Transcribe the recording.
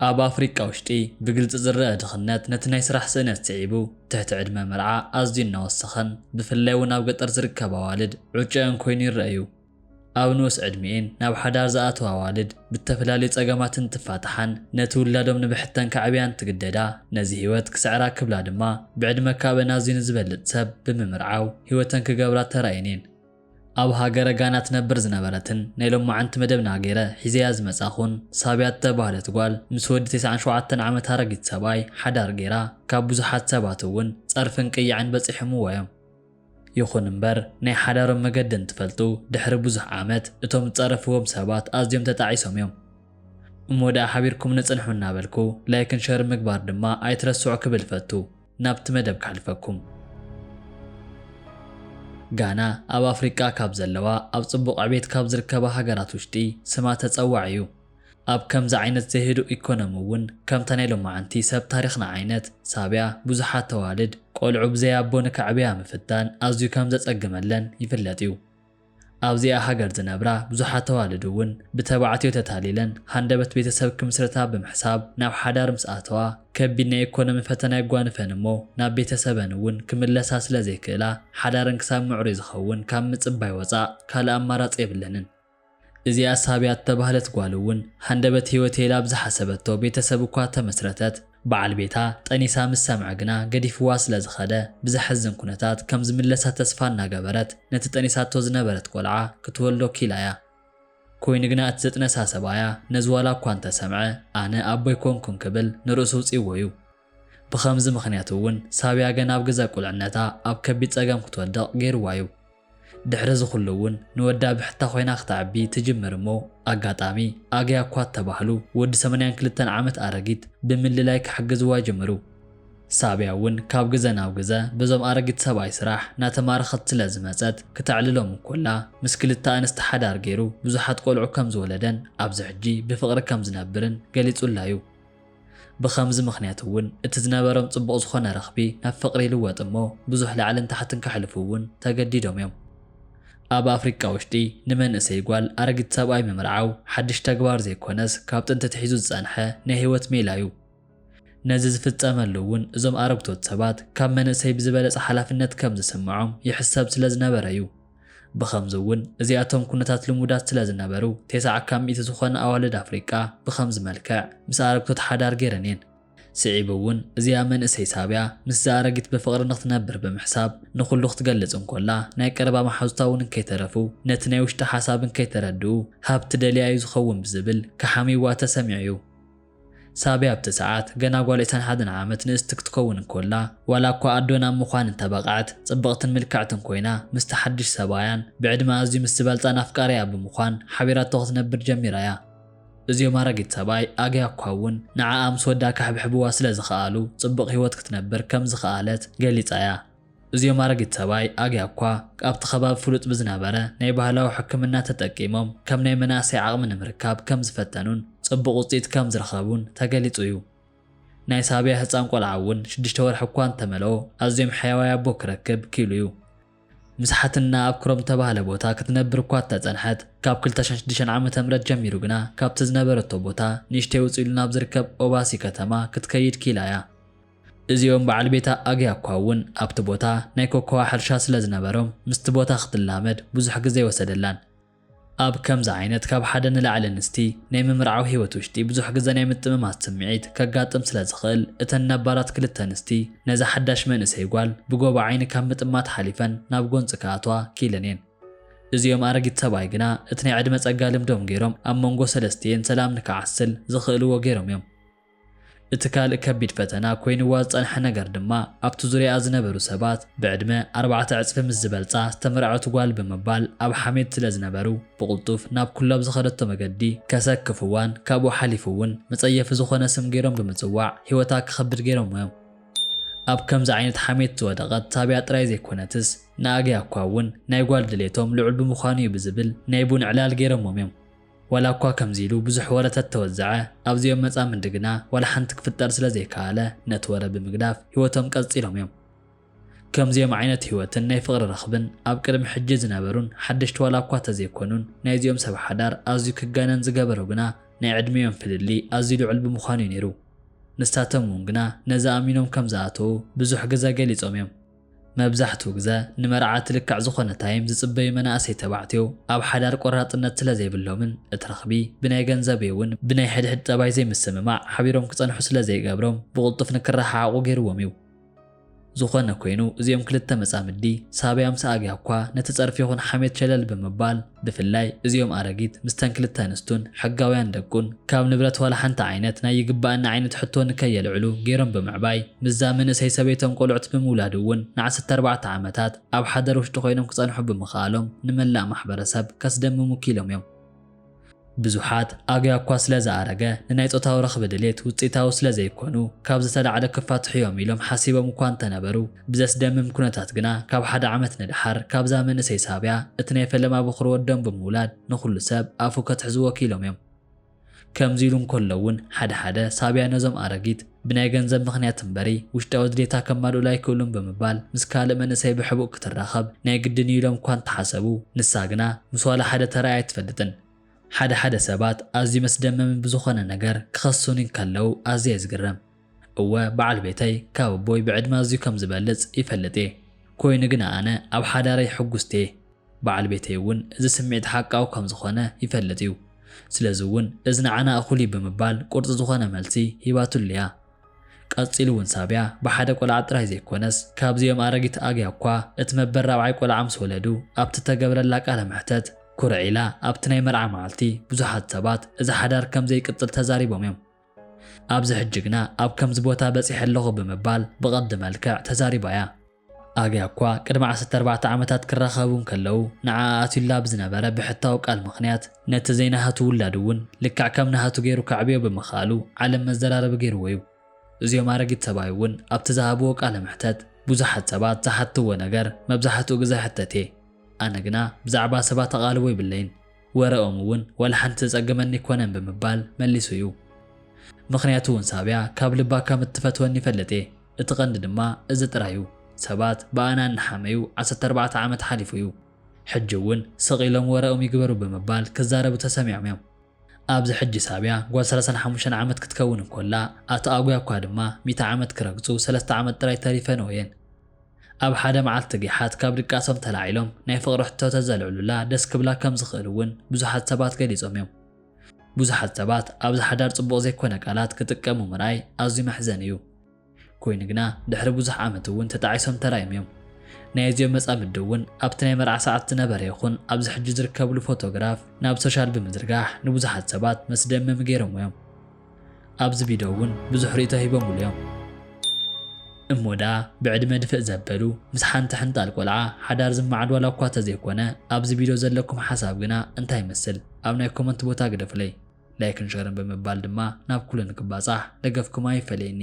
ኣብ ኣፍሪቃ ውሽጢ ብግልፂ ዝረኣ ድኽነት ነቲ ናይ ስራሕ ስእነት ስዒቡ ትሕቲ ዕድመ መርዓ ኣዝዩ እናወሰኸን ብፍላይ እውን ኣብ ገጠር ዝርከባ ኣዋልድ ዑጨኣን ኮይኑ ይረኣ እዩ። ኣብ ንኡስ ዕድሚኤን ናብ ሓዳር ዝኣተዋ ኣዋልድ ብተፈላለዩ ፀገማት እንትፋታሓን ነቲ ውላዶም ንብሕተን ከዕብያ እንትግደዳ ነዚ ህይወት ክስዕራ ክብላ ድማ ብዕድመ ካብእን ኣዝዩ ንዝበልፅ ሰብ ብምምርዓው ህይወተን ክገብራ ተራእየን እየን። ኣብ ሃገረ ጋና ትነብር ዝነበረትን ናይ ሎማዓንቲ መደብና ገይረ ሒዘያ ዝመጻኹን ሳብያ እተባህለት ጓል ምስ ወዲ ተስዓን ሸውዓተን ዓመት ኣረጊት ሰብኣይ ሓዳር ገይራ ካብ ብዙሓት ሰባት እውን ጸርፍን ቅያዕን በጺሖምዋ እዮም። ይኹን እምበር ናይ ሓዳሮም መገዲ እንትፈልጡ ድሕሪ ብዙሕ ዓመት እቶም ዝጸረፍዎም ሰባት ኣዝዮም ተጣዒሶም እዮም። እሞ ደኣ ሓቢርኩምኒ ጽንሑ እናበልኩ ላይክን ሸርን ምግባር ድማ ኣይትረስዑ ክብል እፈቱ። ናብቲ መደብ ከሕልፈኩም። ጋና ኣብ ኣፍሪቃ ካብ ዘለዋ ኣብ ጽቡቕ ዕቤት ካብ ዝርከባ ሃገራት ውሽጢ ስማ ተጸዋዒ እዩ። ኣብ ከምዚ ዓይነት ዘይህዱእ ኢኮኖሚ እውን ከምታ ናይ ሎማዓንቲ ሰብ ታሪኽና ዓይነት ሳብያ ብዙሓት ተዋልድ ቆልዑ ብዘይ ኣቦ ንከዕብያ ምፍታን ኣዝዩ ከም ዘጸግመለን ይፍለጥ እዩ። ኣብዚኣ ሃገር ዝነብራ ብዙሓት ኣዋልድ እውን ብተባዕትዮ ተታሊለን ሃንደበት ቤተሰብ ክምስርታ ብምሕሳብ ናብ ሓዳር ምስ ኣተዋ ከቢድ ናይ ኢኮኖሚ ፈተና የጓንፈን እሞ ናብ ቤተሰበን እውን ክምለሳ ስለ ዘይክእላ ሓዳረን ክሳብ ምዕሩይ ዝኸውን ካብ ምፅባይ ወፃእ ካልእ ኣማራፂ የብለንን። እዚኣ ሳብያ እተባህለት ጓል እውን ሃንደበት ህይወተይ ኢላ ኣብ ዝሓሰበቶ ቤተሰብ እኳ እተመስረተት በዓል ቤታ ጠኒሳ ምስ ሰምዐ ግና ገዲፍዋ ስለ ዝኸደ ብዘሕዝን ኩነታት ከም ዝምለሳ ተስፋ እናገበረት ነቲ ጠኒሳቶ ዝነበረት ቆልዓ ክትወልዶ ኪኢላ'ያ። ኮይኑ ግና እቲ ዘጥነሳ ሰብኣያ ነዚ ዋላ እኳ እንተ ሰምዐ ኣነ ኣቦ ኣይኮንኩን ክብል ንርእሱ ኣውጺእዎ'ዩ። ብኸምዚ ምኽንያት'ውን ሳብያ ገና ኣብ ግዘ ቁልዕነታ ኣብ ከቢድ ጸገም ክትወድቕ ገይርዋ'ዩ። ድሕሪ እዚ ኹሉ እውን ንወዳ ብሕታ ኮይና ክተዕቢ ትጅምር እሞ ኣጋጣሚ ኣግያ እኳ እተባህሉ ወዲ ሰመንያን ክልተን ዓመት ኣረጊት ብምልላይ ክሕግዝዋ ጀመሩ። ሳብያ እውን ካብ ግዘ ናብ ግዘ በዞም ኣረጊት ሰብኣይ ስራሕ እናተማረኸት ስለ ዝመፀት ክተዕልሎም እንኮላ ምስ ክልተ ኣንስቲ ሓዳር ገይሩ ብዙሓት ቆልዑ ከም ዝወለደን ኣብዚ ሕጂ ብፍቕሪ ከም ዝነብርን ገሊፁላ እዩ። ብኸምዚ ምኽንያት እውን እቲ ዝነበሮም ጽቡቕ ዝኾነ ረኽቢ ናብ ፍቕሪ ይልወጥ እሞ ብዙሕ ላዕልን ታሕትን ከሕልፉ እውን ተገዲዶም እዮም። ኣብ ኣፍሪቃ ውሽጢ ንመንእሰይ ጓል ኣረጊት ሰብኣይ ምምርዓው ሓድሽ ተግባር ዘይኮነስ ካብ ጥንቲ ኣትሒዙ ዝጸንሐ ናይ ህይወት ሜላ እዩ። ነዚ ዝፍጸመሉ እውን እዞም ኣረግቶት ሰባት ካብ መንእሰይ ብዝበለጸ ሓላፍነት ከም ዝስምዖም ይሕሰብ ስለ ዝነበረ እዩ። ብኸምዚ'ውን እዚኣቶም ኩነታት ልሙዳት ስለ ዝነበሩ፣ ቴስዓ ካብ ሚእቲ ዝኾና ኣዋልድ ኣፍሪቃ ብኸምዚ መልክዕ ምስ ኣረግቶት ሓዳር ገይረን እየን። ስዒቡ'ውን እዚኣ መንእሰይ ሳብያ ምስዛ ኣረጊት ብፍቕሪ ንኽትነብር ብምሕሳብ ንኹሉ ክትገልጽ እንኮላ ናይ ቀረባ መሓዙታ'ውን እንከይተረፉ ነቲ ናይ ውሽጣ ሓሳብ እንከይተረድኡ ሃብቲ ደልያ እዩ ዝኸውን ብዝብል ክሓምዩዋ ተሰሚዑ እዩ። ሳብያ ኣብቲ ሰዓት ገና ጓል ዕስራን ሓደን ዓመት ንእስቲ ክትከውን እንኮላ፣ ዋላ እኳ ኣዶ ናብ ምዃን እንተበቕዐት፣ ጽብቕትን ምልክዕትን ኮይና ምስቲ ሓድሽ ሰብኣያን ብዕድመ ኣዝዩ ምስ ዝበልጻን ኣፍቃሪኣያ ብምዃን ሓቢራቶ ክትነብር ጀሚራ እያ። እዚኦም ኣረጊት ሰብኣይ ኣግያ እኳ እውን ንዓኣ ምስ ወዳ ከሕብሕብዋ ስለ ዝኸኣሉ ጽቡቕ ህይወት ክትነብር ከም ዝኸኣለት ገሊጻ እያ። እዚኦም ኣረጊት ሰብኣይ ኣግያኳ ኣብቲ ከባቢ ፍሉጥ ብዝነበረ ናይ ባህላዊ ሕክምና ተጠቂሞም ከም ናይ መናእሰይ ዓቕሚ ንምርካብ ከም ዝፈተኑን ጽቡቕ ውጽኢት ከም ዝረኸቡን ተገሊጹ እዩ። ናይ ሳብያ ህጻን ቆልዓ እውን ሽዱሽተ ወርሒ እኳ እንተመልኦ ኣዝዮም ሕያዋይ ኣቦ ክረክብ ክኢሉ እዩ። ምስ ሓትንና ኣብ ክሮም እተባህለ ቦታ ክትነብር እኳ እተጸንሐት፣ ካብ ክልተ ሽሕን ሽዱሽተን ዓመተ ምህረት ጀሚሩ ግና ካብቲ ዝነበረቶ ቦታ ንእሽተይ ውጽእ ኢሉ ናብ ዝርከብ ኦባሲ ከተማ ክትከይድ ክኢላ እያ። እዚኦም በዓል ቤታ ኣግያኳ ውን ኣብቲ ቦታ ናይ ኮኮዋ ሕርሻ ስለ ዝነበሮም ምስቲ ቦታ ክትላመድ ብዙሕ ግዘ ኣይወሰደላን። ኣብ ከምዚ ዓይነት ካብ ሓደ ንላዕሊ ኣንስቲ ናይ ምምርዓው ህይወት ውሽጢ ብዙሕ ግዘ ናይ ምጥምማት ስምዒት ከጋጥም ስለ ዝኽእል እተን ነባራት ክልተ ኣንስቲ ነዛ ሓዳሽ መንእሰይ ጓል ብጎቦ ዓይኒ ካብ ምጥማት ሓሊፈን ናብ ጎንፂ ክኣትዋ ክኢለን እየን። እዚኦም ኣረጊት ሰብኣይ ግና እቲ ናይ ዕድመ ፀጋ ልምዶም ገይሮም ኣብ መንጎ ሰለስቲኤን ሰላም ንክዓስል ዝኽእልዎ ገይሮም እዮም። እቲ ካልእ ከቢድ ፈተና ኮይንዋ ዝጸንሐ ነገር ድማ ኣብቲ ዙርያኣ ዝነበሩ ሰባት ብዕድመ ኣርባዕተ ዕጽፊ ምስ ዝበልጻ ዝተመርዐወት ጓል ብምባል ኣብ ሓሜት ስለ ዝነበሩ ብቕልጡፍ ናብ ኩሉኣብ ዝኸደቶ መገዲ ከሰክፍዋን ካብኡ ሓሊፉ'ውን መጸየፊ ዝኾነ ስም ገይሮም ብምጽዋዕ ህይወታ ክኸብድ ገይሮምዎ'ዮም። ኣብ ከምዚ ዓይነት ሓሜት ዝወደቐት ሳብያ ጥራይ ዘይኮነትስ ንኣግያኳ'ውን ናይ ጓል ድሌቶም ልዑል ብምዃኑ'ዩ ብዝብል ናይ ቡን ዕላል ገይሮሞም'ዮም። ዋላ እኳ ከምዚ ኢሉ ብዙሕ ወረ ተተወዘዐ፣ ኣብዚኦም መጻምዲ ግና ዋላ ሓንቲ ክፍጠር ስለ ዘይከኣለ፣ ነቲ ወረ ብምግዳፍ ህይወቶም ቀጺሎም እዮም። ከምዚኦም ዓይነት ህይወትን ናይ ፍቕሪ ርኽብን ኣብ ቅድሚ ሕጂ ዝነበሩን ሓደሽቲ ዋላ እኳ ተዘይኮኑን፣ ናይዚኦም ሰብ ሓዳር ኣዝዩ ክጋነን ዝገበሮ ግና ናይ ዕድሚኦም ፍልልይ ኣዝዩ ልዑል ብምዃኑ እዩ ነይሩ። ንሳቶም እውን ግና ነዚ ኣሚኖም ከም ዝኣተዉ ብዙሕ ግዘ ገሊጾም እዮም። መብዛሕትኡ ግዘ ንመርዓት ልክዕ ዝኾነ ታይም ዝፅበዩ መናእሰይ ተባዕትዮ ኣብ ሓዳር ቆራፅነት ስለዘይብሎምን እቲ ርኽቢ ብናይ ገንዘብ እዩ እውን ብናይ ሕድሕድ ጠባይ ዘይምስምማዕ ሓቢሮም ክፀንሑ ስለዘይገብሮም ብቕልጡፍ ንክረሓሓቑ ገይሩዎም እዩ። ዝኾነ ኮይኑ እዚኦም ክልተ መፃምዲ ሳብያ ምስ ኣግያ እኳ ነቲ ፀርፊ ይኹን ሓሜት ሸለል ብምባል ብፍላይ እዚኦም ኣረጊት ምስተን ክልተ ኣንስቱን ሕጋውያን ደቁን ካብ ንብረት ዋላ ሓንቲ ዓይነት ናይ ይግባኣኒ ዓይነት ሕቶ ንከየልዕሉ ገይሮም ብምዕባይ ምስዛ መንእሰይ ሰበይቶም ቆልዑት ብምውላድ እውን ንዓሰርተ ኣርባዕተ ዓመታት ኣብ ሓደር ውሽጢ ኮይኖም ክፀንሑ ብምኽኣሎም ንመላእ ማሕበረሰብ ከስደምሙ ኪኢሎም እዮም። ብዙሓት ኣግያ እኳ ስለ ዝኣረገ ንናይ ጾታዊ ረኽቢ ድሌት ውጽኢታዊ ስለ ዘይኮኑ ካብ ዝተላዕለ ክፋትሑ እዮም ኢሎም ሓሲቦም እኳ እንተነበሩ ብዘስደምም ኩነታት ግና ካብ ሓደ ዓመት ንደሓር ካብዛ መንእሰይ ሳብያ እቲ ናይ ፈለማ በዅሪ ወዶም ብምውላድ ንዅሉ ሰብ ኣፉ ከትሕዝዎ ክኢሎም እዮም። ከምዚ ኢሉ እንከሎ እውን ሓደ ሓደ ሳብያ ነዞም ኣረጊት ብናይ ገንዘብ ምኽንያት እምበሪ ውሽጣዊ ድሌታ ከማልኡላ ኣይክእሉን ብምባል ምስ ካልእ መንእሰይ ብሕቡእ ክትራኸብ ናይ ግድን እዩ ኢሎም እኳ እንተሓሰቡ ንሳ ግና ምስ ዋላ ሓደ ተራእያ ኣይትፈልጥን። ሓደ ሓደ ሰባት ኣዝዩ መስደመሚ ብዝኾነ ነገር ክኸሱኒ እንከለዉ ኣዝየ እየ ዝግረም። እወ በዓል ቤተይ ካብ ኣቦይ ብዕድመ ኣዝዩ ከም ዝበልጽ ይፈልጥ እየ። ኮይኑ ግና ኣነ ኣብ ሓዳረይ ሕጉስቲ እየ። በዓል ቤተይ እውን እዚ ስምዒት ሓቃዊ ከም ዝዀነ ይፈልጥ እዩ፣ ስለዚ እውን እዚ ንዓና እኹል እዩ ብምባል ቁርጺ ዝዀነ መልሲ ሂባትሉ እያ። ቀጺሉ እውን ሳብያ ብሓደ ቈልዓ ጥራይ ዘይኰነስ ካብዚኦም ኣረጊት ኣግያ እኳ እቲ መበል ራብዓይ ቈልዓ ምስ ወለዱ ኣብቲ እተገብረላ ቃለ መሕተት ኵርዕ ኢላ ኣብቲ ናይ መርዓ መዓልቲ ብዙሓት ሰባት እዚ ሓዳር ከም ዘይቅጽል ተዛሪቦም እዮም። ኣብዚ ሕጂ ግና ኣብ ከምዚ ቦታ በጺሐ ኣለኹ ብምባል ብቐንዲ መልክዕ ተዛሪባ እያ። ኣብያ እኳ ቅድሚ ዓሰርተ ኣርባዕተ ዓመታት ክራኸቡ እንከለዉ ንዓኣ ኣትዩላ ብዝነበረ ብሕታዊ ቃል ምኽንያት ነቲ ዘይናሃቱ ውላድ እውን ልክዕ ከም ናሃቱ ገይሩ ከዕብዮ ብምኽኣሉ ዓለም መዘራረቢ ገይርዎ እዩ። እዚኦም ኣረጊት ሰብኣይ እውን ኣብቲ ዝሃብዎ ቃለ መሕተት ብዙሓት ሰባት ዝሓትትዎ ነገር መብዛሕትኡ ግዘ ሕተት እየ። ኣነ ግና ብዛዕባ ሰባት ኣቓልቦ ይብለይን። ወረኦም እውን ዋላ ሓንቲ ዘጸገመኒ ኣይኮነን ብምባል መሊሱ እዩ። ምኽንያቱ እውን ሳብያ ካብ ልባ ከም እትፈትወኒ ይፈልጥ እየ። እቲ ቀንዲ ድማ እዚ ጥራይ እዩ። ሰባት ብኣና እናሓመዩ ዓሰርተ ኣርባዕተ ዓመት ሓሊፉ እዩ። ሕጂ እውን ስቕ ኢሎም ወረኦም ይግበሩ ብምባል ክዛረቡ ተሰሚዖም እዮም። ኣብዚ ሕጂ ሳብያ ጓል ሰላሳን ሓሙሽተን ዓመት ክትከውን እንኮላ፣ ኣቶ ኣጉያ እኳ ድማ ሚእቲ ዓመት ክረግጹ ሰለስተ ዓመት ጥራይ ተሪፈንኦ እየን። ኣብ ሓደ መዓልቲ ጊሓት ካብ ድቃሶም ተላዒሎም ናይ ፍቕሪ ሕቶ ተዘልዕሉላ ደስ ክብላ ከም ዝኽእል እውን ብዙሓት ሰባት ገሊጾም እዮም። ብዙሓት ሰባት ኣብዚ ሓዳር ጽቡቕ ዘይኮነ ቃላት ክጥቀሙ ምርኣይ ኣዝዩ መሕዘኒ እዩ። ኮይኑ ግና ድሕሪ ብዙሕ ዓመት እውን ተጣዒሶም ተራእዮም እዮም። ናይ እዚኦም መጻምዲ እውን ኣብቲ ናይ መርዓ ሰዓት ዝነበረ ይኹን ኣብዚ ሕጂ ዝርከብሉ ፎቶግራፍ ናብ ሶሻል ብምዝርጋሕ ንብዙሓት ሰባት መስደመሚ ገይሮምዎ እዮም። ኣብዚ ቪድዮ እውን ብዙሕ ርእይቶ ሂቦምሉ እዮም። እሞ ደኣ ብዕድመ ድፍእ ዘበሉ ምስ ሓንቲ ሕንጣል ቆልዓ ሓዳር ዝመዓድ ዋላ እኳ ተዘይኮነ ኣብዚ ቪድዮ ዘለኩም ሓሳብ ግና እንታይ ይመስል ኣብ ናይ ኮመንት ቦታ ግደፉለይ ላይክን ሸርን ብምባል ድማ ናብ ኩሉ ንክባጻሕ ደገፍኩም ኣይፈለየኒ።